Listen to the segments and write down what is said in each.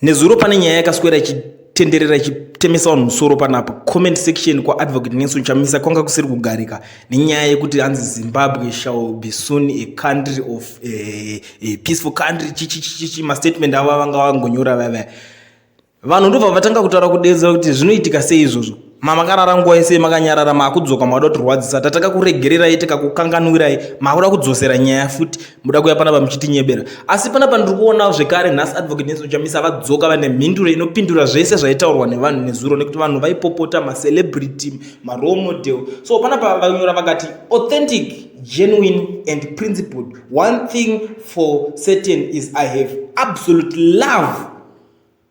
nezuro pane nyaya yakaswera ichitenderera ichitemesa vanhu musoro panapa comment section kwaadvocate nelson chamisa kwanga kusiri kugarika nenyaya yekuti hanzi zimbabwe shall be soon a country of eh, a peaceful country chichichichichi mastatement avo vanga vangonyora vavaya vanhu ndobva vatanga kutaura kudedzera kuti zvinoitika sei izvozvo mamakarara nguva yese makanyarara makudzoka makuda kutirwadzisa tataka kuregererai tikakukanganwirai makuda kudzosera nyaya futi muda kuya panapa muchitinyebera asi panapa ndiri kuonawo zvekare nhasi advocate nelson chamisa vadzoka vane mhinduro inopindura zvese zvaitaurwa nevanhu nezuro nekuti vanhu vaipopota macelebrity marole model so panapa vanyora vakati authentic genuine and principled one thing for certain is i have absolute love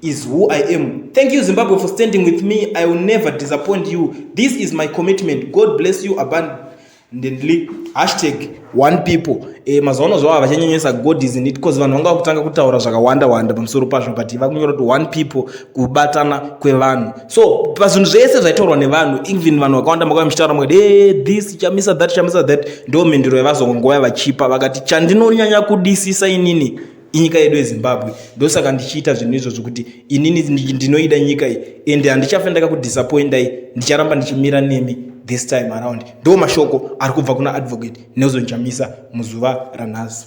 is who I am. Thank you Zimbabwe for standing with me. I will never disappoint you. This is my commitment. God bless you abundantly. Hashtag one people. Eh, mazuva zvava vachanyenyesa God is in it because vanhu vanga vakutanga kutaura zvakawanda wanda pamusoro pazvo but vakunyora kuti one people kubatana kwevanhu. So pazvinhu zvese zvaitaurwa nevanhu even vanhu vakawanda makauya muchitaura mukati hey, eh, this chamisa that chamisa that ndo mhinduro yavazongongoya vachipa vakati chandinonyanya kudisisa inini inyika yedu yezimbabwe ndosaka ndichiita zvinhu izvo zvokuti inini ndinoida nyika iyi ende handichafe ndakakudisappointai ndicharamba ndichimira nemi this time around ndo mashoko ari kubva kuna advocate nelson chamisa muzuva ranhasi